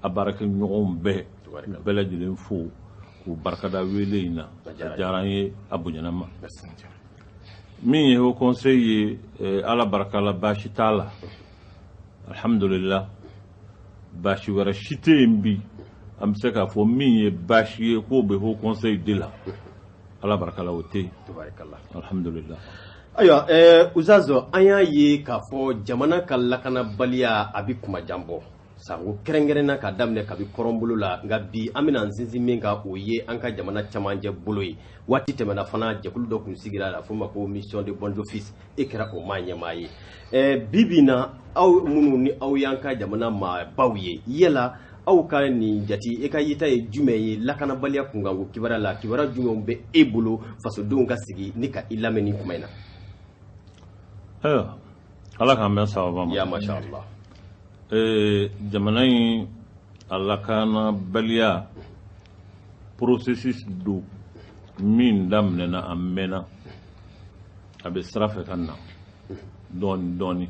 a baarakɛ ɲɔgɔnw bɛɛ bɛɛ lajɛlen fo k'u barikada wele in na a diyara an ye a bonyana an ma min ye haut conseil ye eh, ala barika la baasi t'a la alhamdulillah baasi wɛrɛ si tɛ yen bi an bɛ se k'a fɔ min ye baasi ye k'o bɛ haut conseil de la ala barika la o tɛ yen alhamdulillah ayiwa eh, usitazu an y'a ye k'a fɔ jamana ka lakanabaliya a bɛ kumajan bɔ sanko kɛrɛnkɛrɛnna k'a daminɛ kabi kɔrɔnbolo la nka bi an bɛna an sinsin min kan o ye an ka jamana camancɛ bolo ye waati tɛmɛna fana jɛkulu dɔ tun sigira la f'o ma ko mission de bons offices e kɛra o maa ɲɛmaa ye eh, bi bi na aw minnu ni aw y'an ka jamana maabaw ye yala aw ka nin jate e ka yeta ye jumɛn ye lakanabaliya kunkanko kibaruya la kibaruya jumɛnw bɛ e bolo fasodenw ka sigi ni ka i lamɛn nin kuma in na ayiwa ala k'an bɛn sababu ma ya masha allah ee jamana in a lakanabaliya processus don min daminɛna a mɛnna a bɛ sira fɛ ka na dɔɔni dɔɔni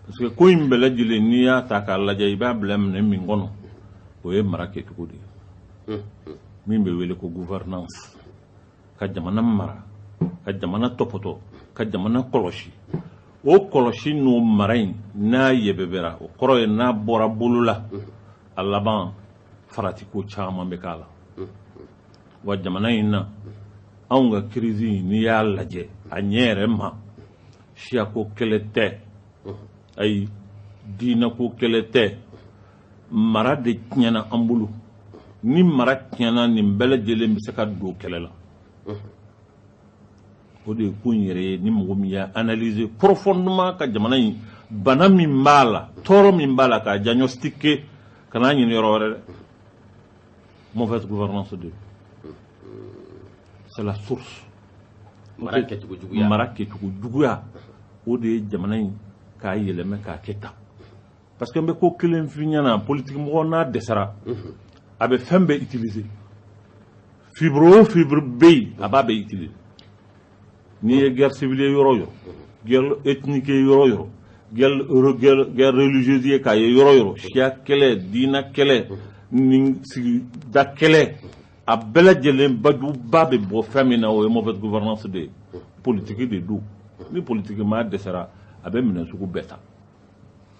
parce que ko in bɛɛ lajɛlen n'i y'a ta k'a lajɛ i b'a bila minɛn min kɔnɔ o ye mara kɛcogo de ye min bɛ wele ko gouvernance ka jamana mara ka jamana tɔpɔtɔ ka jamana kɔlɔsi o kɔlɔsi n'o mara in n'a yɛbɛbɛra o kɔrɔ ye n'a bɔra bolo la a laban faratiko caman bɛ k'a la wa jamana in na anw ka kirisi in n'i y'a lajɛ a ɲɛ yɛrɛ ma siyako kɛlɛ tɛ ayi diinako kɛlɛ tɛ mara de tiɲɛna an bolo ni mara tiɲɛna nin bɛɛ lajɛlen bɛ se ka don kɛlɛ la o de ye ko in yɛrɛ ye ni mɔgɔ min y'a analyser profondément ka jamana in bana min b'a la tɔɔrɔ min b'a la k'a diagnostiquer kan'a ɲini yɔrɔ wɛrɛ dɛ mauvaise gouvernance de c'est la source mara kɛcogo juguya o de ye jamana in k'a yɛlɛma k'a kɛ tan parce que n bɛ ko kelen f'i ɲɛna politiki mɔgɔ n'a dɛsɛra mhm. a bɛ fɛn bɛɛ utiliser fibre o fibre bɛ yen a b'a bɛɛ utiliser n'i ye guerre civile ye yɔrɔ o yɔrɔ guerre ethnique ye yɔrɔ o yɔrɔ guerre guerre guerre religieuse ye k'a ye yɔrɔ o yɔrɔ siya kɛlɛ diina kɛlɛ ni sigida kɛlɛ a bɛɛ lajɛlen bajuba bɛ bɔ fɛn min na o ye mauvaise gouvernance de ye politiki de don ni politiki maa dɛsɛra a bɛ minɛn sugu bɛɛ ta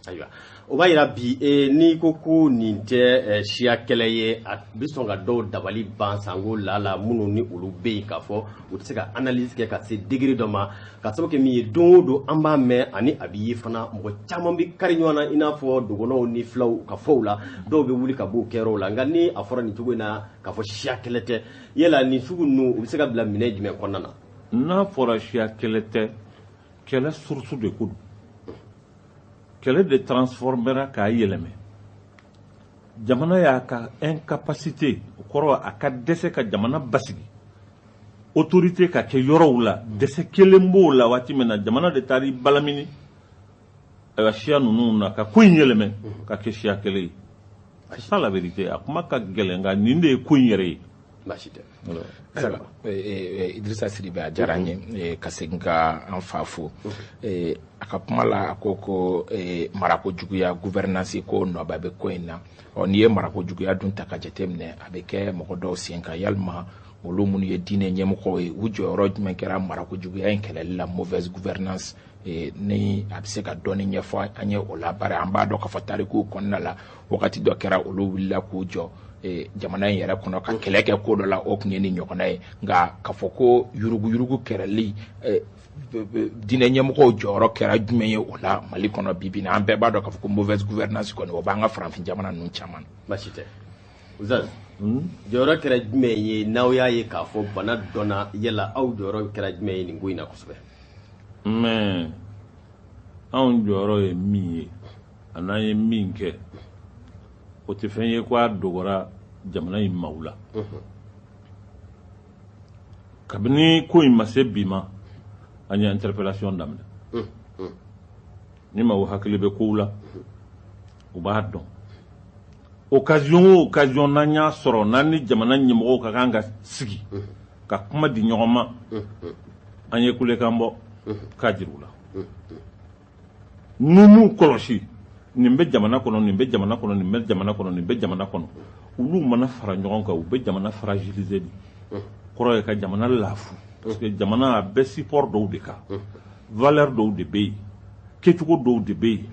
ayiwa o b'a yira bi e, n'i ko ko nin tɛ e, siya kɛlɛ ye a bɛ sɔn ka dɔw dabali ban sanko la la minnu ni olu bɛ yen k'a fɔ u tɛ se ka analyse kɛ ka se degré dɔ ma ka sababu kɛ min ye don o don an b'a mɛn ani a bɛ ye fana mɔgɔ caman bɛ kari ɲɔgɔn na i n'a fɔ dɔgɔnɔw ni filaw ka fɔw la dɔw bɛ wuli ka b'o kɛyɔrɔw la nka ni a fɔra nin cogo in na k'a fɔ siya kɛlɛ tɛ yala nin sugu ninnu u bɛ se ka bila minɛn jumɛn kɔnɔna na n'a fɔra siya kɛlɛ tɛ kɛlɛ source de ko don kɛlɛ de transformera k'a yɛlɛmɛ jamana y'a ka incapacité o kɔrɔ a ka dɛsɛ ka jamana basigi autorité ka kɛ yɔrɔw la dɛsɛ kɛlen b'o la waati min na jamana de taara i balamini ayiwa siya ninnu na ka ko in yɛlɛmɛ ka kɛ siya kɛlɛ ye c'est ça la vérité a kuma ka gɛlɛn nka nin de ye ko in yɛrɛ ye baasi tɛ idrisa sidibe a diyara n ye ka segin ka an fa fo a ka kuma la a ko ko marako juguya gouvernance ko nɔba bɛ ko in na ɔ n'i ye marako juguya dun ta ka jateminɛ a bɛ kɛ mɔgɔ dɔw sen kan yalima olu minnu ye diinɛ ɲɛmɔgɔw ye u jɔyɔrɔ jumɛn kɛra marako juguya in kɛlɛli la mauvaise gouvernance ni a bɛ se ka dɔɔni ɲɛfɔ an ye o la bari an b'a dɔn k'a fɔ tarikuw kɔnɔna la wagati dɔ kɛra olu wulila k'u jɔ jamana in yɛrɛ kɔnɔ ka kɛlɛ kɛ ko dɔ la o tun ye nin ɲɔgɔnna ye nka k'a fɔ ko yuruguyurugu kɛlɛli diinɛ ɲɛmɔgɔw jɔyɔrɔ kɛra jumɛn ye o la mali kɔnɔ bi bi na an bɛɛ b'a dɔn k'a fɔ ko mauvaise gouvernance kɔni o b'an ka farafin jamana ninnu caman baasi tɛ Ustaz jɔyɔrɔ kɛra jumɛn ye n'aw y'a ye k'a fɔ bana donna yala aw jɔyɔrɔ kɛra jumɛn ye nin ko in na kosɛbɛ mais anw jɔyɔrɔ ye min ye ani an ye min kɛ o tɛ fɛn ye ko a dogora jamana in maaw la kabini ko in ma se bi ma an ye interpellation daminɛ ni maaw hakili bɛ kow la u b'a dɔn occasion o occasion n'an y'a sɔrɔ n'an ni jamana ɲɛmɔgɔw ka kan ka sigi ka kuma di ɲɔgɔn ma an ye kulekan bɔ k'a jira u la n'u m'u kɔlɔsi nin bɛ jamana kɔnɔ nin bɛ jamana kɔnɔ nin bɛ jamana kɔnɔ nin bɛ jamana kɔnɔ olu mana fara ɲɔgɔn kan u bɛ jamana fragiliser de kɔrɔ ye ka jamana laafu parce que jamana a bɛ support dɔw de kan valeur dɔw de bɛ yen kɛcogo dɔw de bɛ yen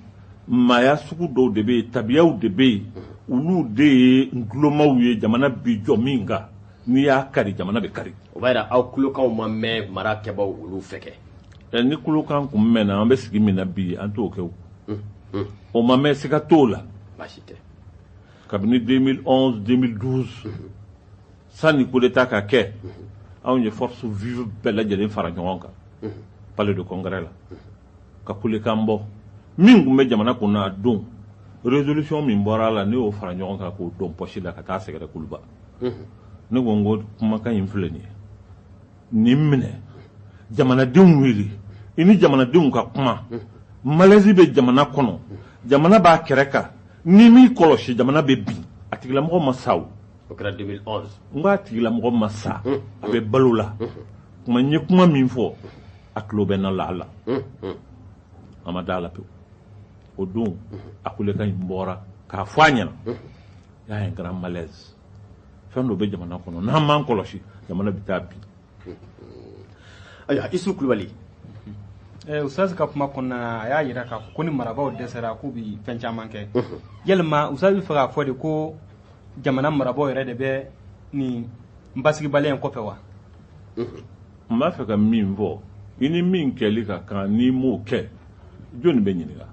maaya sugu dɔw de bɛ yen tabiyaw de bɛ yen olu de ye ntulomaw ye jamana bi jɔ min kan n'i y'a kari jamana bɛ kari o b'a jira aw kulekanw ma mɛn mara kɛbaaw olu fɛ kɛ eh, ni kulekan kun mɛnna an bɛ sigi min na bi an t'o kɛ o hmm, hmm. o ma mɛn siga t'o la baasi tɛ kabini 2011 2012 hmm. sanni coup d'état ka kɛ anw ye force vive bɛɛ lajɛlen fara ɲɔgɔn kan palais de congrès la ka kulekan bɔ min tun bɛ jamana kunna a don révolution min bɔra a la ne y'o fara ɲɔgɔn kan k'o don poche la ka taa sɛgɛrɛ kuluba ne ko n ko kumakan in filɛ nin ye nin minɛ jamanadenw wele i ni jamanadenw ka kuma malaise bɛ jamana kɔnɔ jamana b'a kɛrɛ kan n'i m'i kɔlɔsi jamana bɛ bin a tigilamɔgɔ ma sa o o kɛra 2011 n ko a tigilamɔgɔ ma sa a bɛ balo la kuma n ye kuma min fɔ a tulo bɛ na lahala a ma da la pewu o don a kulekan in bɔra k'a fɔ a ɲɛna y'a ye grand malaise fɛn dɔ bɛ jamana kɔnɔ n'an m'an kɔlɔsi jamana bɛ taa bin ayiwa isu kulubali eh, ustaz ka kuma kɔnɔna na a y'a yira k'a fɔ ko ni marabaaw dɛsɛra k'u bi fɛn caman kɛ yalima ustaz b'a fɛ k'a fɔ de ko jamana marabaaw yɛrɛ de bɛ nin basigibaliya in kɔfɛ wa n b'a fɛ ka min fɔ i ni min kɛli ka kan n'i m'o kɛ jɔni bɛ ɲininka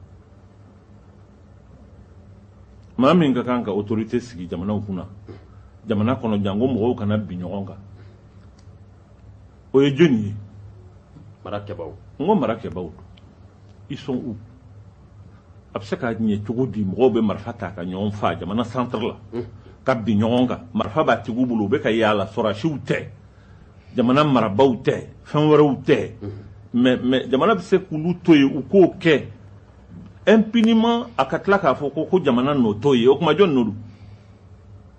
maa min ka kan ka autorité sigi jamanaw kunna jamana kɔnɔ janko mɔgɔw kana bin ɲɔgɔn kan o ye jɔni ye marakɛbaaw n ko marakɛbaaw don ils sont où a bɛ se ka ɲɛ cogo di mɔgɔw bɛ marifa ta ka ɲɔgɔn faa jamana centre la ka bin ɲɔgɔn kan marifa b'a tigiw bolo u bɛ ka yaala sɔrɔdasiw tɛ jamana marabaaw tɛ fɛn wɛrɛw tɛ mais mais jamana bɛ se k'olu to yen u k'o kɛ impunément a ka tila k'a fɔ ko ko jamana nɔ t'o ye o tuma jɔni nɔ don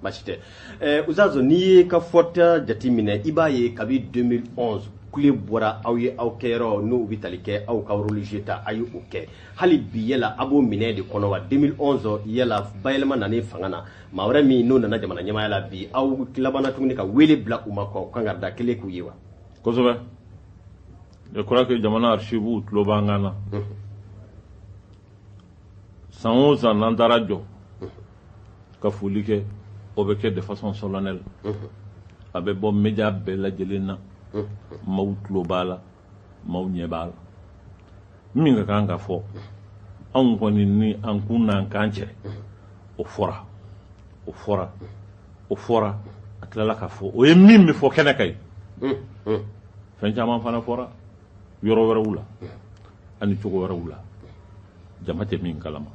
basi tɛ ɛɛ uzazo n'i y'i ka fɔta jateminɛ i b'a ye kabi 2011 kule bɔra aw ye aw kɛyɔrɔ n'u bɛ tali kɛ aw ka religieux ta a ye o kɛ hali bi yala a b'o minɛ de kɔnɔ wa 2011 yala bayɛlɛma nana fanga na maa wɛrɛ min n'o nana jamana ɲɛmaaya la bi aw labanna tuguni ka wele bila u ma ka kangari da kɛnɛ kan u ye wa kosɛbɛ je crois que jamana archives tulo b'an kan na san o san n'an taara jɔ ka foli kɛ o bɛ kɛ de façon solennelle a bɛ bɔ média bɛɛ lajɛlen na maaw tulo b'a la maaw ɲɛ b'a la min ka kan ka fɔ anw kɔni ni an kun n'an kan cɛ o fɔra o fɔra o fɔra a tilala ka fɔ o ye min bɛ fɔ kɛnɛ kan ye fɛn caman fana fɔra yɔrɔ wɛrɛw la ani cogo wɛrɛw la jama tɛ min kalama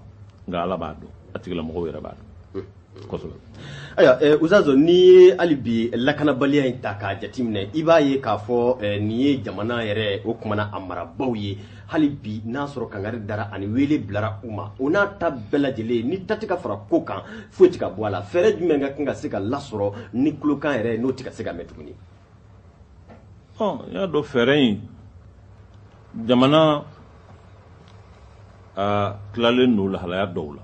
nka ala b'a dɔn a tigilamɔgɔw yɛrɛ b'a dɔn kosɛbɛ ayiwa eh, uzazɔ n'i ye hali bi lakanabaliya in ta k'a jateminɛ i b'a ye k'a fɔ eh, nin ye jamana yɛrɛ o kumana a marabaaw ye hali bi n'a sɔrɔ kangari dara ani wele bilara u ma o n'a ta bɛɛ lajɛlen ni ta tɛ ka fara ko kan foyi tɛ ka bɔ a la fɛɛrɛ jumɛn ka kan ka se ka lasɔrɔ ni kulekan yɛrɛ n'o tɛ ka se ka mɛn tuguni bon n y'a dɔn fɛɛrɛ in jamana a tilalen don lahalaya dɔw la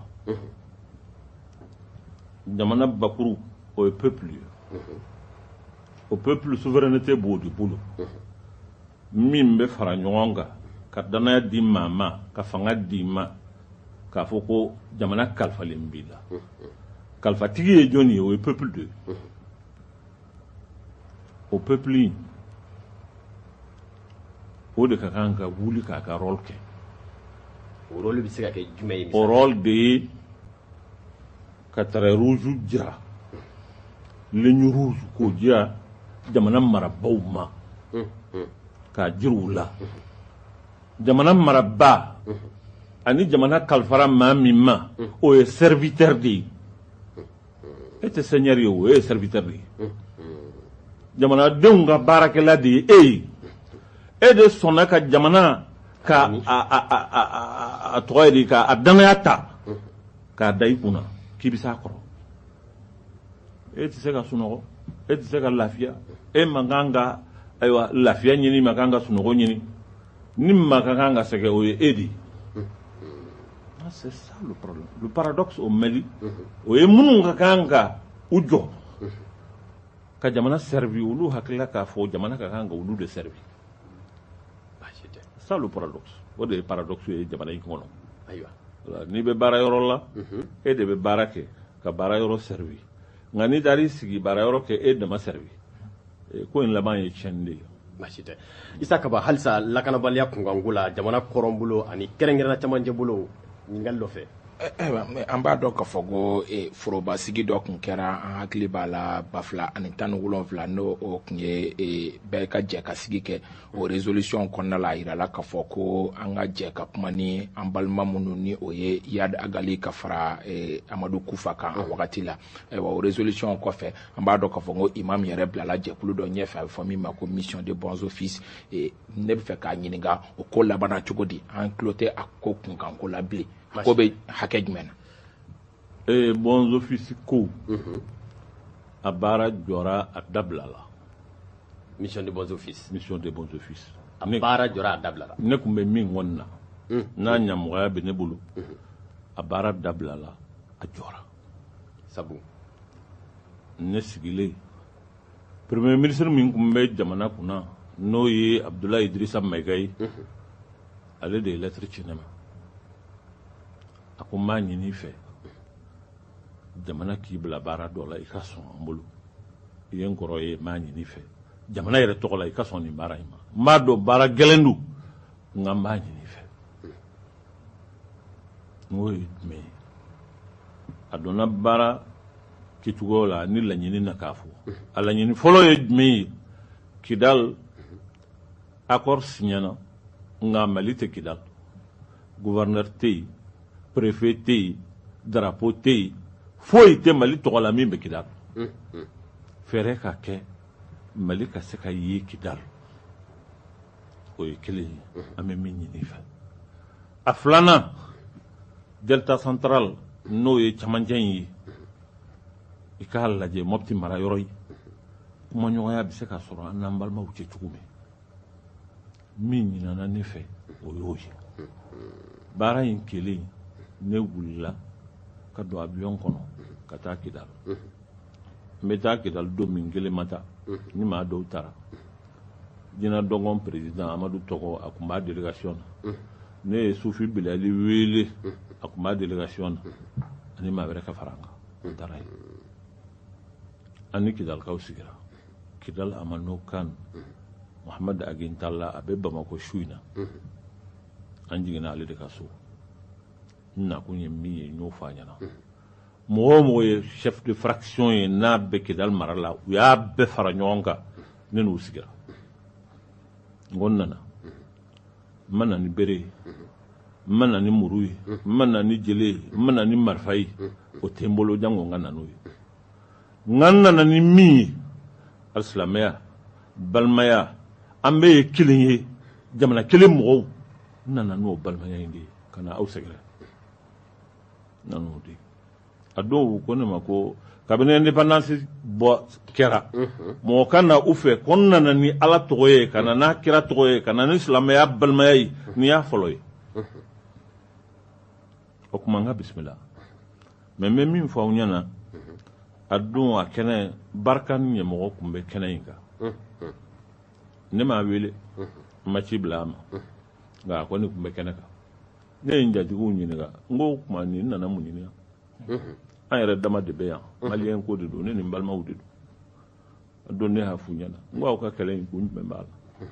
jamana bakuru o ye peuple ye o peuple souveraineté b'o de bolo min bɛ fara ɲɔgɔn kan ka danaya di maa ma ka fanga d'i ma k'a fɔ ko jamana kalifalen b'i la kalifatigi ye jɔni ye o ye peuple de ye o peuple in o de ka kan ka wuli k'a ka rôle kɛ o rôle bɛ se ka kɛ jumɛn ye o rôle de ye ka trait rouge jira ligne rouge k'o jira jamana marabaaw ma k'a jira u la jamana marabaa ani jamana kalifara maa min ma o ye serviteur de ye e tɛ seigneur ye o e ye serviteur de ye jamanadenw ka baarakɛla de ye e ye e de sɔnna ka jamana ka a tɔgɔ ye di ka a danaya ta k'a da i kun na k'i bɛ s'a kɔrɔ e tɛ se ka sunɔgɔ e tɛ se ka lafiya e man kan ka ayiwa lafiya ɲini man kan ka sunɔgɔ ɲini ni maa ka kan ka sɛgɛn o ye e de ye ah, c'est ça le problème le paradoxe au Mali o ye minnu ka kan ka u jɔ ka jamana servi olu hakili la k'a fɔ jamana ka kan ka olu de servi c'est ça le paradoxe o de ye paradoxe ye jamana in kɔnɔ ayiwa n'i bɛ baara yɔrɔ la e de bɛ baara kɛ ka baara yɔrɔ servi nka n'i taara i sigi baara yɔrɔ k'e dama servi eh, ko in laban ye tiɲɛni de ye baasi tɛ isa kaba halisa lakanabaliya kunkanko la jamana kɔrɔn bolo ani kɛrɛnkɛrɛnna camancɛ bolo ɲininkali dɔ fɛ eh, eh, an b'a dɔn k'a fɔ ko forobasigi dɔ tun kɛra an hakili b'a la ba fila ani tan ni wolonwula n'o tun ye bɛɛ ka jɛ ka sigi kɛ o résolution kɔnɔna la a yirala k'a fɔ ko an ka jɛ ka kuma ni an balima minnu ni o ye iyad ag ghali ka fara eh, amadu kufa kan a wagati la ayiwa o résolution kɔfɛ an b'a dɔn k'a fɔ ko imam yɛrɛ bilala jɛkulu dɔ ɲɛfɛ a bɛ fɔ min ma ko mission de bons offices eh, ne bɛ fɛ k'a ɲininka o ko labanna cogo di an tulo tɛ a ko kunkanko la bilen a ko bɛ hakɛ jumɛn na ee bons offices ko mhm. a baara jɔra a dabilala mission de bons offices mission de bons offices a baara jɔra a dabilala ne tun bɛ min kunna mhm. n'a ɲamɔgɔya bɛ ne bolo mhm. a baara dabilala a jɔra sabu ne sigilen premier ministre min tun bɛ jamana kunna n'o ye abudulayi idirisa mayiga ye ale de ye lettre ci ne ma a ko n b'a ɲini fɛ jamana k'i bila baara dɔ la i ka sɔn an bolo i ye n kɔrɔ ye n b'a ɲini fɛ jamana yɛrɛ tɔgɔ la i ka sɔn nin baara in ma n b'a dɔn baara gɛlɛn don nka n b'a ɲini fɛ n k'o ye jumɛn ye a donna baara kɛcogoyaw la ni laɲini na k'a fɔ a laɲini fɔlɔ ye jumɛn ye kidali accord siɲɛna nka mali tɛ kidal gouverneur tɛ yen préfet tɛ yen drapeau tɛ yen foyi tɛ mali tɔgɔ la min bɛ kidal fɛɛrɛ ka kɛ mali ka se ka ye kidal o ye kelen ye an bɛ min ɲini fɛ a filanan delta central n'o ye camancɛ in ye i k'a lajɛ mɔpti mara yɔrɔ ye kumaɲɔgɔnya bɛ se ka sɔrɔ an n'an balimaw cɛ cogo min min ɲinina ne fɛ o y'o ye baara in kɛlen ne wulila ka don avion kɔnɔ ka taa kidal n bɛ taa kidal don min n kelen ma taa n ni maa dɔw taara ginna dogon président amadu togo a tun b'a délégation na ne ye sufi bilali wele a tun b'a délégation na ani maa wɛrɛ ka fara n kan n taara yen an ni kidalikaw sigira kidal amenokal mohamed ag intalla a bɛ bamakɔ su in na an jiginna ale de ka so n nakun ye min ye n y'o fɔ a ɲɛna mɔgɔ o mɔgɔ ye chef de fraction ye n'a bɛ kidali mara la u y'a bɛɛ fara ɲɔgɔn kan ne n'u sigira n ko n nana n ma na ni bere ye n ma na ni muru ye n ma na ni jele ye n ma na ni marifa ye o tɛ n bolo janko n ka na n'o ye nka n nana ni min ye alisilamɛya balimaya an bɛɛ ye kelen ye jamana kelen mɔgɔw n nana n'o balimaya in de ye ka na aw sɛgɛrɛ n nana n'o de ye a dɔw ko ne ma ko kabini indépendance bɔ kɛra mɔgɔ ka na u fɛ ko n nana ni ala tɔgɔ ye ka na n'a kira tɔgɔ ye ka na ni silamɛya balimaya ye nin y'a fɔlɔ ye o tuma n ka bisimila mais n bɛ min fɔ aw ɲɛna a don a kɛnɛ barkhane ɲɛmɔgɔ tun bɛ kɛnɛ in kan ne m'a wele n ma ci bila a ma nka a kɔni tun bɛ kɛnɛ kan ne ye n jatigiw ɲininka n ko o tuma nin nana mun ɲini yan mhm. an yɛrɛ dama de bɛ yan mhm. maliyɛn ko de don ne ni n balimaw de don a don ne y'a f'u ɲɛna n ko aw ka kɛlɛ in kun jumɛn b'a la mhm.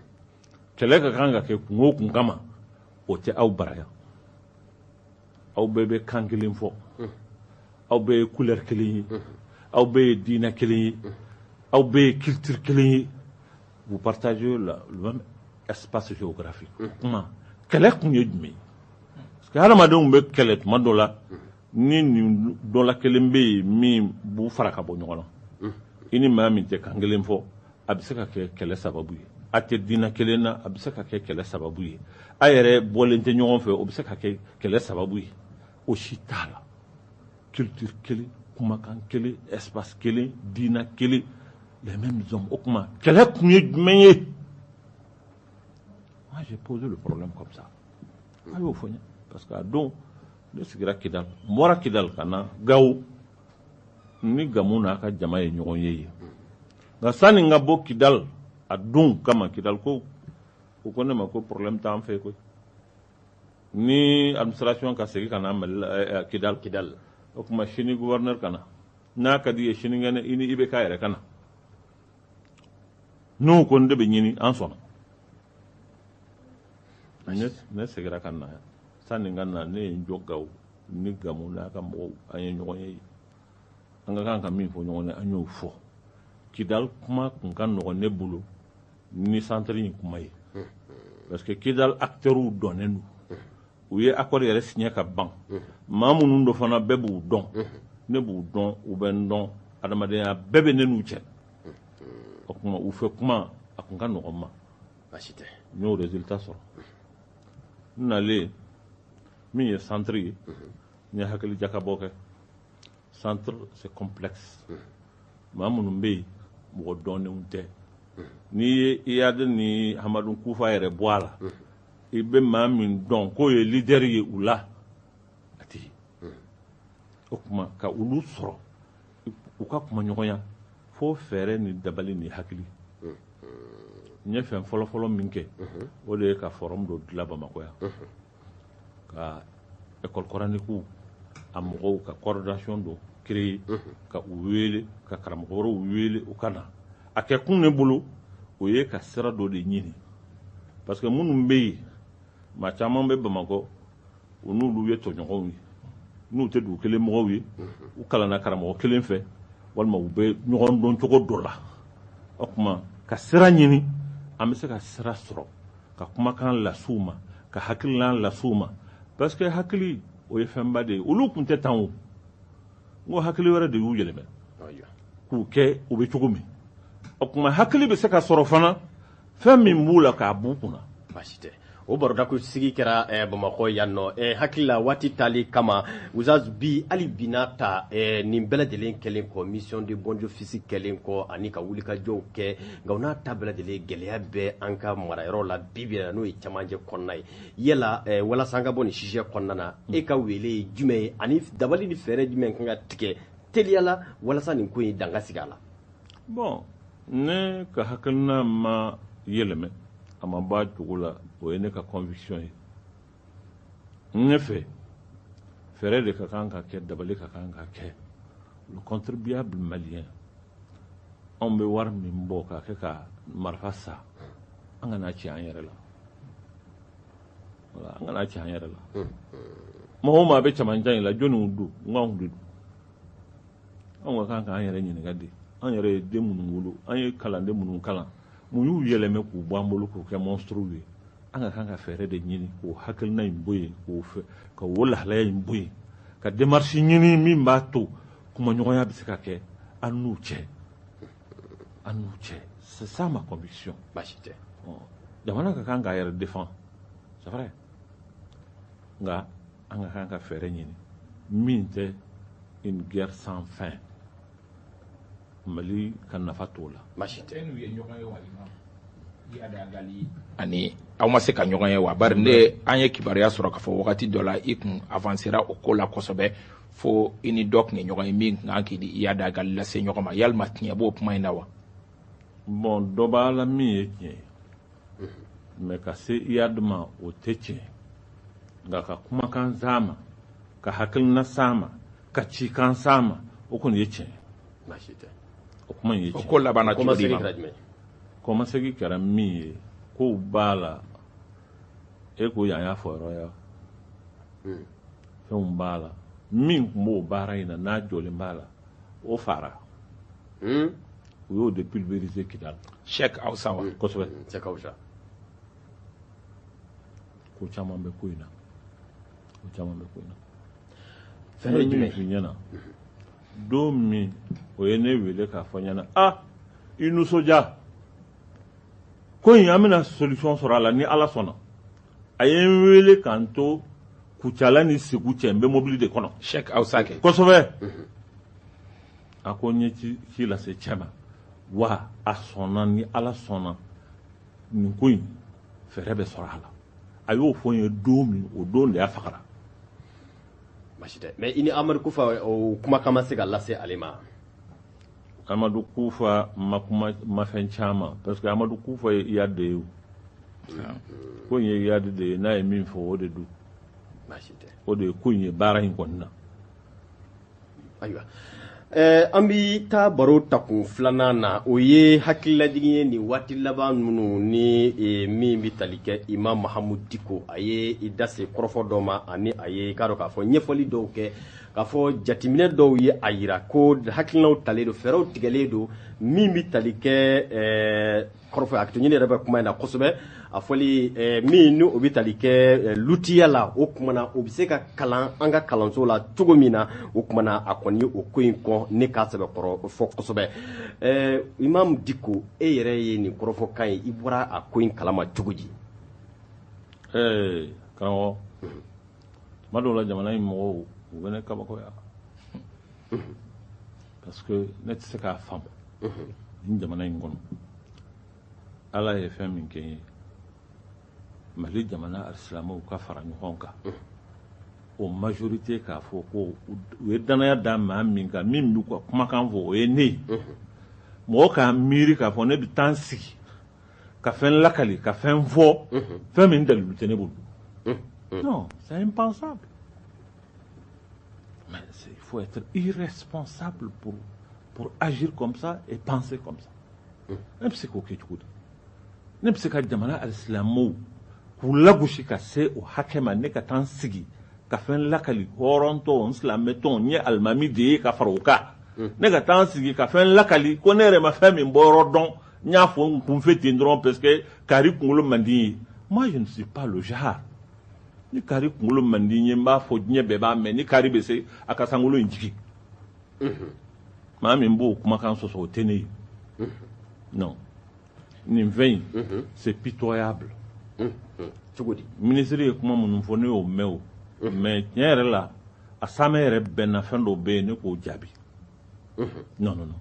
kɛlɛ ka kan ka kɛ kun o kun kama o tɛ aw bara yan aw bɛɛ bɛ kan kelen fɔ aw bɛɛ ye couleur kelen ye aw bɛɛ ye diinɛ kelen ye aw bɛɛ ye culture kelen ye Vous partagez le même espace géographique. Mm. Kuma kɛlɛ kun ye jumɛn ye? Parce que hadamadenw bɛ kɛlɛ tuma dɔ la ni nin dɔ la kelen bɛ yen min b'u fara ka bɔ ɲɔgɔn na. Mm. I ni maa min tɛ kan kelen fɔ a bɛ se ka kɛ kɛlɛ sababu ye. A tɛ diinɛ kelen na a bɛ se ka kɛ kɛlɛ sababu ye. A yɛrɛ bɔlen tɛ ɲɔgɔn fɛ o bɛ se ka kɛ kɛlɛ sababu ye. o si t'a la culture kelen kumakan kelen espace kelen diina kelen les mêmes hommes o tuma kɛlɛ kun ye jumɛn ye moi j'ai posé le problème comme ça a y'o fɔ n ye parce que a don ne sigira kidal n bɔra kidal ka na gawo ni gamu n'a ka jama ye ɲɔgɔn ye yen nka sanni n ka bɔ kidal a don kama kidalkaw ko ne ma ko problème t'an fɛ koyi ni administration ka segin ka na mali la eh, eh, kidal kidal o tuma sini gouverneur ka na n'a ka d'i ye sinikɛnɛ i ni IBK yɛrɛ ka na n'o kɔni de bɛ ɲini an sɔnna ne ne segira ka na sanni n ka na ne ye n jɔ gawo ni gamu n'a ka mɔgɔw an ye ɲɔgɔn ye an ka kan ka min fɔ ɲɔgɔn ye an y'o fɔ kidal kuma tun ka nɔgɔn ne bolo ni centre in kuma ye parce que kidal acteurs dɔnnen don u ye accord yɛrɛ signé ka ban maa minnu don fana bɛɛ b'u dɔn ne b'u dɔn u bɛ n dɔn adamadenya bɛɛ bɛ ne n'u cɛ o kuma u fɛ kuma a tun ka nɔgɔn n ma baasi tɛ n y'o résultat sɔrɔ n nalen min ye centre ye n ye hakili jakabɔ kɛ centre c'est complexe maa minnu bɛ yen mɔgɔ dɔnnenw tɛ n'i ye iyadi ni hamadu kufa yɛrɛ bɔ a la i bɛ maa min dɔn k'o ye lidɛri ye u la a tɛ o tuma ka olu sɔrɔ u ka kumaɲɔgɔnya fo fɛɛrɛ ni dabali ni hakili n ye fɛn fɔlɔfɔlɔ min kɛ o de ye ka fɔrɔmu dɔ dilan bamakɔ yan ka école coranique a mɔgɔw ka coordination dɔ créer ka u wele ka karamɔgɔ wɛrɛw wele u ka na a kɛ kun ne bolo o ye ka sira dɔ de ɲini parce que minnu bɛ yen maa caman bɛ bamakɔ u n'olu ye tɔɲɔgɔnw ye n'u tɛ dugu kelen mɔgɔw ye u kalanna karamɔgɔ kelen fɛ walima u bɛ ɲɔgɔn dɔn cogo dɔ la o tuma ka sira ɲini an bɛ se ka sira sɔrɔ ka kumakan lase u ma ka hakilila lase u ma parce que hakili o ye fɛnba de ye olu tun tɛ tan o n ko hakili wɛrɛ de y'u yɛlɛmɛ k'u kɛ u bɛ cogo min o tuma hakili bɛ se ka sɔrɔ fana fɛn min b'u la k'a b'u kun na baasi tɛ o barodako sigi kɛra eh, bamakɔ yan nɔ eh, hakili la waati tali kama uzaz bi hali bi n'a ta eh, nin bɛɛ lajɛlen kɛlen kɔ mission de bons offices kɛlen kɔ ani ka wulikajɔw kɛ nka o n'a ta bɛɛ lajɛlen gɛlɛya bɛ an ka marayɔrɔ la bi bi n'o ye camancɛ kɔnɔna ye yala eh, walasa an ka bɔ nin sujet kɔnɔna na e ka wele ye jumɛn ye ani dabali ni fɛɛrɛ jumɛn kan ka tigɛ teliya la walasa nin ko in dan ka sigi a la bon ne ka hakilina ma yɛlɛmɛ a ma b'a jogo la o ye ne ka conviction ye ne fɛ fɛɛrɛ de ka kan ka kɛ dabali ka kan ka kɛ le contribuable malien anw bɛ wari min bɔ k'a kɛ ka marifa san an kan'a ci an yɛrɛ la voilà an kan'a ci an yɛrɛ la maa o maa bɛ cɛmancɛ in la jɔniw don n k'anw de don anw ka kan k'an yɛrɛ ɲininka de an yɛrɛ ye den minnu wolo an ye kalanden minnu kalan mun y'u yɛlɛmɛ k'u bɔ an bolo k'u kɛ monstrew ye an ka kan ka fɛɛrɛ de ɲini k'o hakilina in bɔ yen k'o fɛ ka o lahalaya in bɔ yen ka démarche ɲini min b'a to kumaɲɔgɔnya bɛ se ka kɛ an n'u cɛ an n'u cɛ c'est ça ma conviction baasi tɛ jamana ka kan k'a yɛrɛ défend c'est vrai nka an ka kan ka fɛɛrɛ ɲini min tɛ une guerre sans fin mali ka nafa t'o la baasi tɛ iyad ag ghali ani aw ma se ka ɲɔgɔn ye wa bari ne an ye kibaruya sɔrɔ k'a fɔ wagati dɔ la i kun avansera o ko la kosɛbɛ fo i ni dɔ tun ye ɲɔgɔn ye min tun ka kan k'i ni iyad ag ghali lase ɲɔgɔn ma yalima tiɲɛ b'o kuma in na wa bon dɔ b'a la min ye tiɲɛ ye mais ka se iyad ma o tɛ tiɲɛ nka ka kumakan s'a ma ka hakilina s'a ma ka cikan s'a ma o kɔni ye tiɲɛ o kuma in ye tiɲɛ ko labanna cogo di ma kɔmasegi kɛra min ye kow b'a la e ko yan y'a fɔyɔrɔ ya hmm. fɛnw b'a la min tun b'o baara in na n'a jɔlen b'a la o fagara hmm. u y'o de pulvériser Kidal. Cheikh Awsa wa. Kosɛbɛ. Cheikh Awsa. Ko caman bɛ ko in na. Ko caman bɛ ko in na. Fɛn ye jumɛn ye? ɲɛna. Don min o ye ne wele k'a fɔ n ɲɛna ah i nisɔndiya ko in an bɛna solution sɔrɔ a la ni Ala sɔnna a ye n wele ka n to Kucala ni Segu cɛ n bɛ mobili de kɔnɔ. Cheikh Awsa kɛ. Kosɛbɛ. a ko n ye ci lase cɛ ma wa a sɔnna ni ala sɔnna nin ko in fɛɛrɛ bɛ sɔrɔ a la a y'o fɔ n ye don min o don de a fagara baasi tɛ mais i ni amadu kufa o kumakan ma se ka lase ale ma amadu kufa ma kuma ma fɛn caman parce que amadu kufa ye iyad de ye ko in ye iyad de ye n'a ye min fɔ o de don o de ye ko in ye baara in kɔni na ayiwa an bɛ taa baro takun filanan na o ye hakililajigin ye nin waati laban minnu ni min bɛ tali kɛ imam mahamudu diko a ye i da se kɔrɔfɔ dɔ ma ani a ye i k'a dɔn k'a fɔ ɲɛfɔli dɔw kɛ k'a fɔ jateminɛ dɔw ye a jira ko hakilinaw talen don fɛɛrɛw tigɛlen don min bɛ tali kɛ kɔrɔfɔ hakɛtoɲini yɛrɛ bɛ kuma in na kosɛbɛ a fɔli eh, min ni o bɛ tali kɛ eh, lutiya la o tuma na o bɛ se ka kalan an ka kalanso la cogo min na o tuma na a kɔni o ko in kɔn ne k'a sɛbɛkɔrɔ fɔ kosɛbɛ eh, imam diko e yɛrɛ ye nin kɔrɔfɔkan ye i bɔra a ko in kalama cogo di karamɔgɔ tuma dɔw la jamana in mɔgɔw u bɛ ne kabakoya parce que ne tɛ se k'a faamu nin jamana in kɔnɔ ala ye fɛn min kɛ n ye mali jamana alisilamɛw ka fara ɲɔgɔn kan o majorité k'a fɔ ko u ye danaya da maa min kan min b'u ka kumakan fɔ o ye ne ye mɔgɔ k'a miiri k'a fɔ ne bɛ taa n sigi ka fɛn lakali ka fɛn fɔ fɛn min dalilu tɛ ne bolo non c'est impensable mais il faut être irresponsable pour pour agir comme ça et penser comme ça ne bɛ se k'o kɛ cogo di ne bɛ se ka jamana alisilamɛw k'u lagosi ka se o hakɛ ma ne ka taa n sigi ka fɛn lakali hɔrɔntɔ n silamɛtɔ n ye alimami de ye ka fara o kan ne ka taa n sigi ka fɛn lakali ko ne yɛrɛ ma fɛn min bɔ yɔrɔ dɔn n y'a fɔ n kunfɛ ten dɔrɔn parce que kari kunkolo man di n ye moi je ne suis pas le genre ni kari kunkolo man di n ye n b'a fɔ diɲɛ bɛɛ b'a mɛn ni kari bɛ se a ka sankolo in jigin maa min b'o kumakan sɔsɔ o tɛ ne ye non nin fɛn in c'est pitoyable cogo di minisiri ye kuma minnu fɔ ne y'o mɛn o mais tiɲɛ yɛrɛ la a saamɛ yɛrɛ bɛnna fɛn dɔw bɛ yen ne k'o jaabi non non non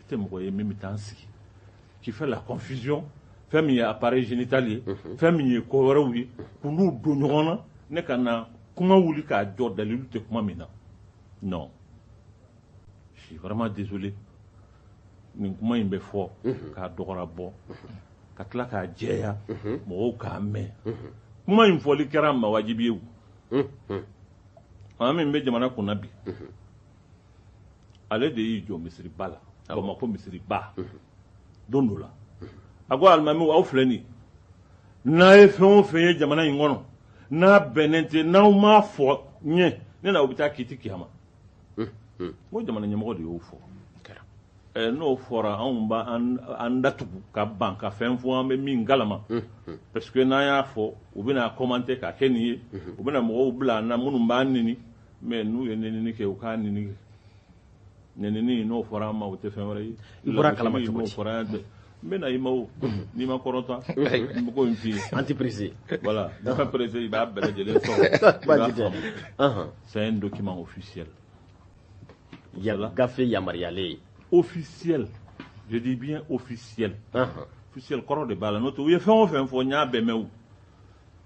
N tɛ mɔgɔ ye min bɛ taa n sigi qui fait la confusion fɛn min ye appareil génital ye fɛn min ye ko wɛrɛw ye k'u don ɲɔgɔn na ne ka na kuma wuli k'a jɔ dalilu tɛ kuma min na non je suis vraiment désolé nin kuma in bɛ fɔ k'a dɔgɔra bɔ ka tila k'a jɛya mɔgɔw k'a mɛn kuma in fɔli kɛra n ma wajibi ye maa min bɛ jamana kunna bi ale de y'i jɔ misiriba la bamakɔ misiriba don dɔ la a ko alimamiw aw filɛ nin n'a ye fɛn o fɛn ye jamana in kɔnɔ n'a bɛnnen tɛ n'aw m'a fɔ n ye ne n'aw bɛ taa kiti kiyama n ko jamana ɲɛmɔgɔ de y'o fɔ Eh, n'o fɔra anw b'an datugu ka ban ka fɛn fɔ an bɛ min kalama parce que n'an y'a fɔ u bɛna commenter k'a kɛ nin ye u bɛna mɔgɔw bila an na minnu b'an neni mais n'u ye nenini kɛ u k'a neni kɛ nenini n'o fɔra an ma o tɛ fɛn wɛrɛ ye i bɔra kalama cogo di fɔra yan dɛ n bɛ na i ma o n'i ma kɔrɔta n bɛ ko in f'i ye an tɛ pressé voilà n'i ma pressé i b'a bɛɛ lajɛlen sɔrɔ i b'a faamu c'est un document officiel yala gafe yamaruyalen ye officiel je dis bien officiel officiel kɔrɔ de b'a la n'o tɛ u ye fɛn o fɛn fɔ n y'a bɛɛ mɛn o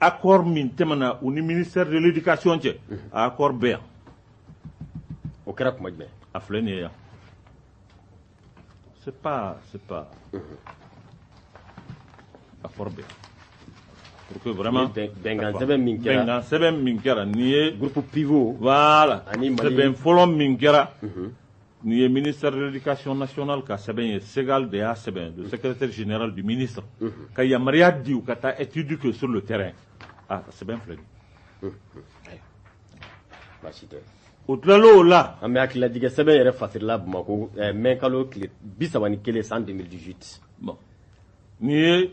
accord min tɛmɛna u ni ministère de l'éducation cɛ a accord bɛ yan o kɛra kuma jumɛn a filɛ nin ye yan c'est pas c'est pas accord bɛ yan pour que vraiment bɛnkan sɛbɛn min kɛra bɛnkan sɛbɛn min kɛra nin ye groupe pivot voilà ani sɛbɛn fɔlɔ min kɛra Nin ye ministère de l'éducation nationale ka sɛbɛn ye SEGAL de y'a sɛbɛn le secrétaire général du ministre ka yamaruya di u ka taa étude kɛ sur le terrain a ka sɛbɛn filɛ nin ye baasi tɛ o tilalen o la an bɛ hakililajigɛ sɛbɛn yɛrɛ fasirila Bamakɔ mɛ kalo tile bi saba ni kelen san 2018 bon nin ye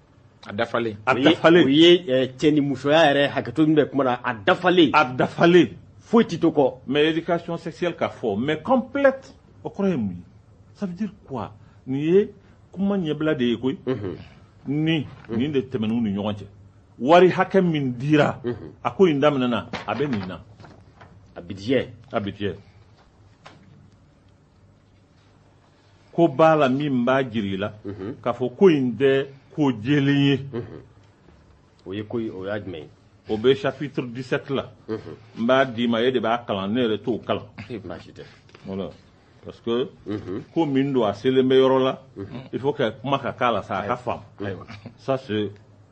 a dafalen a dafalen o ye eh, cɛ ni musoya yɛrɛ hakɛto min bɛ kuma na a dafalen a dafalen foyi tɛ to kɔ mais éducation sexuelle ka fɔ mais complète o kɔrɔ ye mun ye ça veut dire quoi nin ye kuma ɲɛbila de ye koyi mhm. ni mhm. nin de tɛmɛn'u ni ɲɔgɔn cɛ wari hakɛ min dira mhm. a ko in daminɛna a bɛ nin na a budget a budget ko b'a la min b'a jira i la mhm. k'a fɔ ko in tɛ ko jɛlen ye mhm. o ye ko o y'a jumɛn ye o bɛ chapitre 17 la mhm. n b'a d'i ma e de b'a kalan ne yɛrɛ t'o kalan baasi tɛ voilà parce que ko min don a selen bɛ yɔrɔ la il faut que kuma ka k'a la sa a ka faamu ça c'est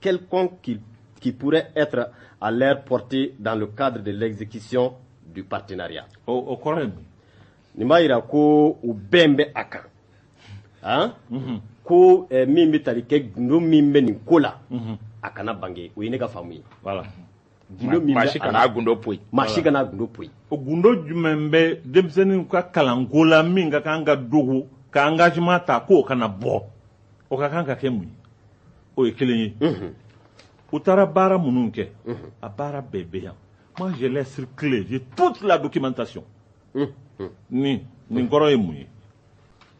quelconques qui, qui pourraient être à leur portée dans le cadre de l'exécution du partenariat. O, o kɔrɔ ye mun? Nin b'a yira ko u bɛn bɛ a kan. Han? Mhm. Ko eh, min bɛ tali kɛ gundo min bɛ nin ko la, Mhm. a kana bange. O ye ne ka faamu ye. Voilà. gundo min maa si kana a gundo poyi maa si kana a gundo poyi o gundo jumɛn bɛ denmisɛnninw ka kalanko la min ka kan ka dogo ka engagement ta k'o kana bɔ o ka kan ka kɛ mun ye o ye kelen ye mhm. u taara baara minnu kɛ mhm. a baara bɛɛ bɛ yan moi je l'ai circulé j'ai toute la documentation mhm. nin nin kɔrɔ ye mun ye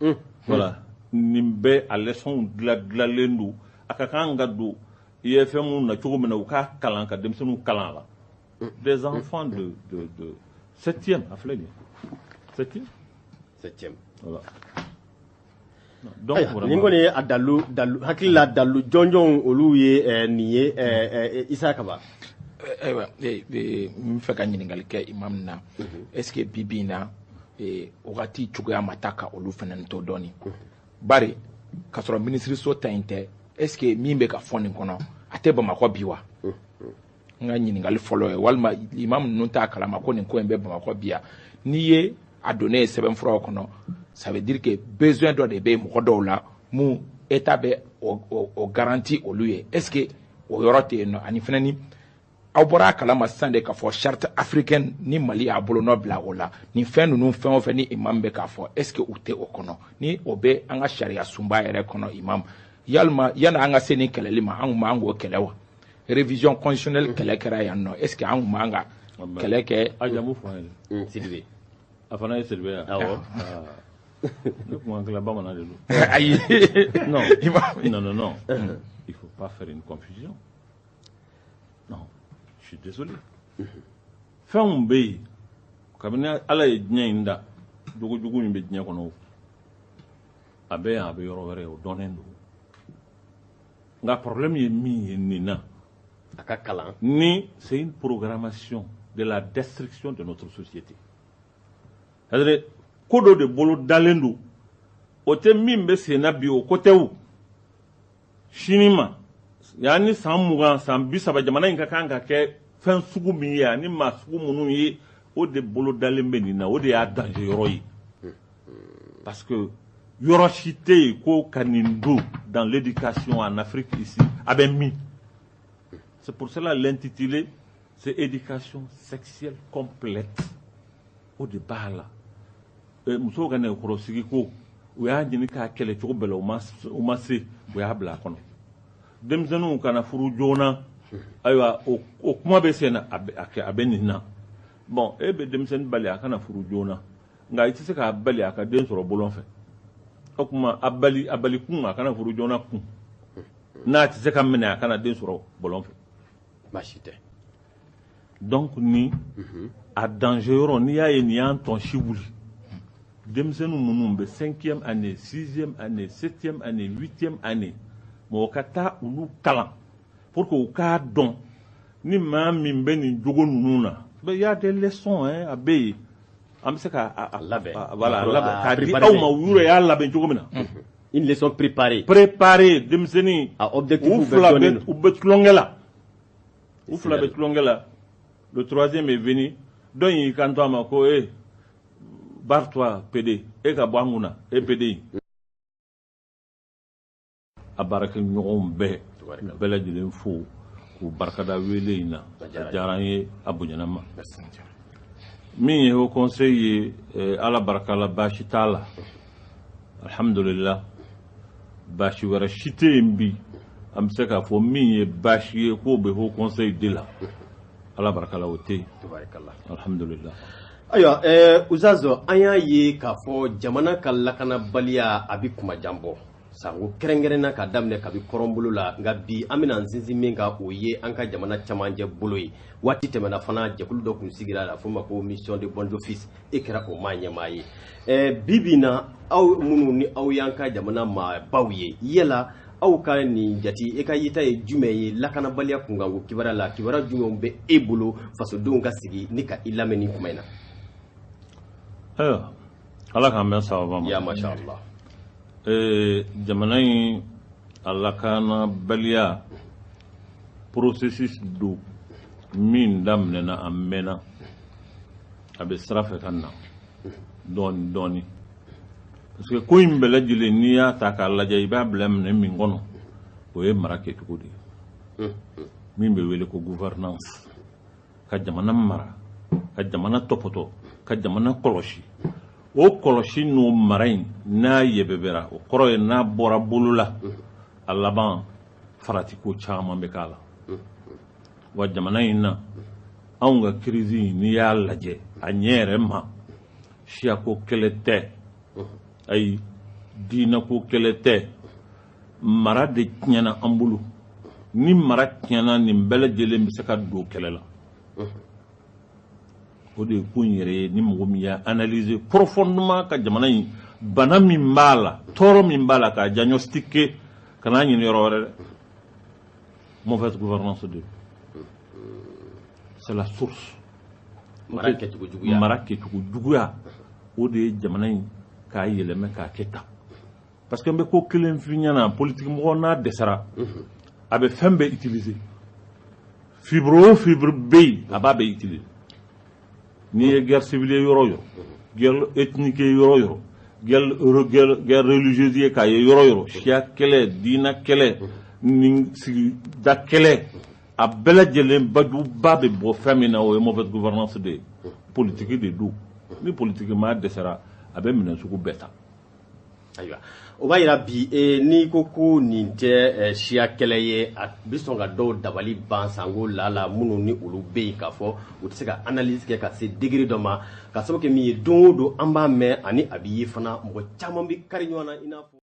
Unhun. Voilà. Nin bɛɛ a leçon dila dilalen don. A ka kan ka don IFM na cogo min na, u k'a kalan ka denmisɛnninw kalan a la. Des enfants de de de septième a filɛ nin ye. Septième? Septième. Voilà. Donc Ayiwa, vraiment. nin kɔni ye a dalu dalu hakili la dalu jɔnjɔnw olu ye eh, nin ye eh, eh, Isa Kaba. Ayiwa, ee, ee, n b'a fɛ ka ɲininkali kɛ imam na. Est ce que bi bi in na eh, wagati cogoya ma taa ka olu fana to dɔɔni bari k'a sɔrɔ minisiriso ta in tɛ est ce que min bɛ ka fɔ nin kɔnɔ a tɛ bamakɔ bi wa n ka ɲininkali fɔlɔ ye walima imam ninnu t'a kalama ko nin ko in bɛ bamakɔ bi yan n'i ye a donnen ye sɛbɛnfuraw kɔnɔ ça veut dire que besoin dɔ de bɛ mɔgɔ dɔw la mun état bɛ o garanti olu ye est ce que o yɔrɔ tɛ yen nɔ ani fana ni aw bɔra a kalama sisan de k'a fɔ charte africaine ni mali y'a bolonɔ bila o la nin fɛn ninnu fɛn o fɛn ni imam bɛ k'a fɔ est ce que u tɛ o kɔnɔ ni o bɛ an ka sariyasunba yɛrɛ kɔnɔ imam yalima yani an ka se nin kɛlɛli ma an kun b'an k'o kɛlɛ wa révision constitutionnelle kɛlɛ kɛra yan nɔ est ce que an kun b'an ka kɛlɛ kɛ a jamu fɔ an ye sidibe a fana ye sidibe yan awɔ ne kuma kila bamanan de don ayi non non non non il faut pas faire une confusion Non, je suis désolé. Mhm. Fɛnw bɛ yen kabini Ala ye diɲɛ in da jogo jugu min bɛ diɲɛ kɔnɔ a bɛ yan a bɛ yɔrɔ wɛrɛ o dɔnnen don nka problème ye min ye nin na a ka kalan ni c'est une programmation de la destruction de notre société c'est à dire ko dɔ de bolodalen don o tɛ min bɛ sen na bi o ko tɛ o sini ma yanni san mugan san bi saba jamana in ka kan ka kɛ fɛn sugu min ye ani maa sugu minnu ye o de bolodalen bɛ nin na o de y'a danger yɔrɔ ye parce que yɔrɔ si tɛ yen ko ka nin don dans l'éducation en Afrique ici a bɛ min c'est pour cela l'intitulé c'est éducation sexuelle complète o de b'a la musow ka nɛgɛkɔrɔsigi ko u y'a ɲini k'a kɛlɛ cogo bɛɛ la u ma se u y'a bila a kɔnɔ denmisɛnninw kana furu joona ayiwa o kuma bɛ sen na a bɛ nin na bon e bɛ denmisɛnnin bali a kana furu joona nka i tɛ se k'a bali a ka den sɔrɔ bɔlɔn fɛ o kuma a bali a bali kun a kana furu joona kun n'a tɛ se ka minɛ a kana den sɔrɔ bɔlɔn fɛ baasi tɛ donc ni mhm. a danger yɔrɔ n'i y'a ye nin y'an tɔn si wuli denmisɛnninw minnu bɛ cinquième année sixième année septième année huitième année mɔgɔ ka taa olu kalan pour que u k'a dɔn ni maa min bɛ nin jogo ninnu na il y a des leçons hein, a bɛ yen an bɛ se ka a labɛn voilà a labɛn k'a di aw ma u yɛrɛ y'a labɛn cogo min na une leçon préparée denmisɛnnin a objectif u fila bɛ u bɛ tulonkɛ la u fila bɛ tulonkɛ la le troisième est venu dɔ in y'i kanto a ma ko e barre-toi PD e ka bɔ an kun na e PD in a baarakɛɲɔgɔnw bɛɛ bɛɛ lajɛlen fo k'u barikada wele in na a diyara an ye a bonyana an ma min ye haut conseil ye eh, ala barika la baasi t'a la alhamdulila baasi wɛrɛ si tɛ yen bi an bɛ se k'a fɔ min ye baasi ye k'o bɛ haut conseil de la ala baraka la o tɛ yen alhamdulila ayiwa ɛɛ uzazɔ an y'a ye k'a fɔ jamana ka lakanabaliya a bɛ kuma jan bɔ sango kɛrɛnkɛrɛnna ka daminɛ kabi kɔrɔnbolo la nka bi an bɛna an sinsin min kan o ye an ka jamana camancɛ bolo ye waati tɛmɛna fana jɛkulu dɔ tun sigira la f'o ma ko mission de bons offices e kɛra o maa ɲɛmaa ye eh, bi bi na aw minnu ni aw y'an ka jamana maabaw ye yala aw ka nin jati e ka yeta ye jumɛn ye lakanabaliya kunkanko kibaruya la kibaruya jumɛnw bɛ e bolo fasodenw ka sigi ni ka i lamɛn nin kuma in na ayiwa ala k'an bɛn sababa ma ya masha allah ee jamana in a lakanabaliya processus don min daminɛna a mɛnna a bɛ sira fɛ ka na dɔɔni dɔɔni parce que ko in bɛɛ lajɛlen n'i y'a ta k'a lajɛ i b'a bila minɛn min kɔnɔ o ye mara kɛcogo de ye min bɛ wele ko gouvernance ka jamana mara ka jamana tɔpɔtɔ ka jamana kɔlɔsi o kɔlɔsi n'o mara in n'a yɛbɛbɛra o kɔrɔ ye n'a bɔra bolo la a laban faratiko caman bɛ k'a la wa jamana in na anw ka crise n'i y'a lajɛ a ɲɛ yɛrɛ ma siyako kɛlɛ tɛ ayi diinako kɛlɛ tɛ mara de tiɲɛna an bolo ni mara tiɲɛna nin bɛɛ lajɛlen bɛ se ka don kɛlɛ la o de ye ko in yɛrɛ ye ni mɔgɔ min y'a analyser profondément ka jamana in bana min b'a la tɔɔrɔ min b'a la k'a diagnostiquer kan'a ɲini yɔrɔ wɛrɛ dɛ mauvaise gouvernance de c'est la source mara kɛcogo juguya o de ye jamana in k'a yɛlɛmɛ k'a kɛ tan parce que n bɛ ko kelen f'i ɲɛna politiki mɔgɔ n'a dɛsɛra mhm. a bɛ fɛn bɛɛ utiliser fibre o fibre bɛ yen a b'a bɛɛ utiliser n'i ye guerre civile ye yɔrɔ o yɔrɔ guerre ethnique ye yɔrɔ o yɔrɔ guerre guerre religieuse ye k'a ye yɔrɔ o yɔrɔ siya kɛlɛ diinɛ kɛlɛ ni sigida kɛlɛ a bɛɛ lajɛlen bajuba bɛ bɔ fɛn min na o ye mauvaise gouvernance de ye politiki de don ni politiki maa dɛsɛra a bɛ minɛn sugu bɛɛ ta ayiwa o b'a yira bi e, n'i ko ko nin tɛ e, siya kɛlɛ ye a bɛ sɔn ka dɔw dabali ban sanko lala minnu ni olu bɛ yen k'a fɔ u tɛ se ka analyse kɛ ka se degré dɔ ma k'a sababu kɛ min ye don o don an b'a mɛn ani a bɛ ye fana mɔgɔ caman bɛ kari ɲɔgɔn na i n'a fɔ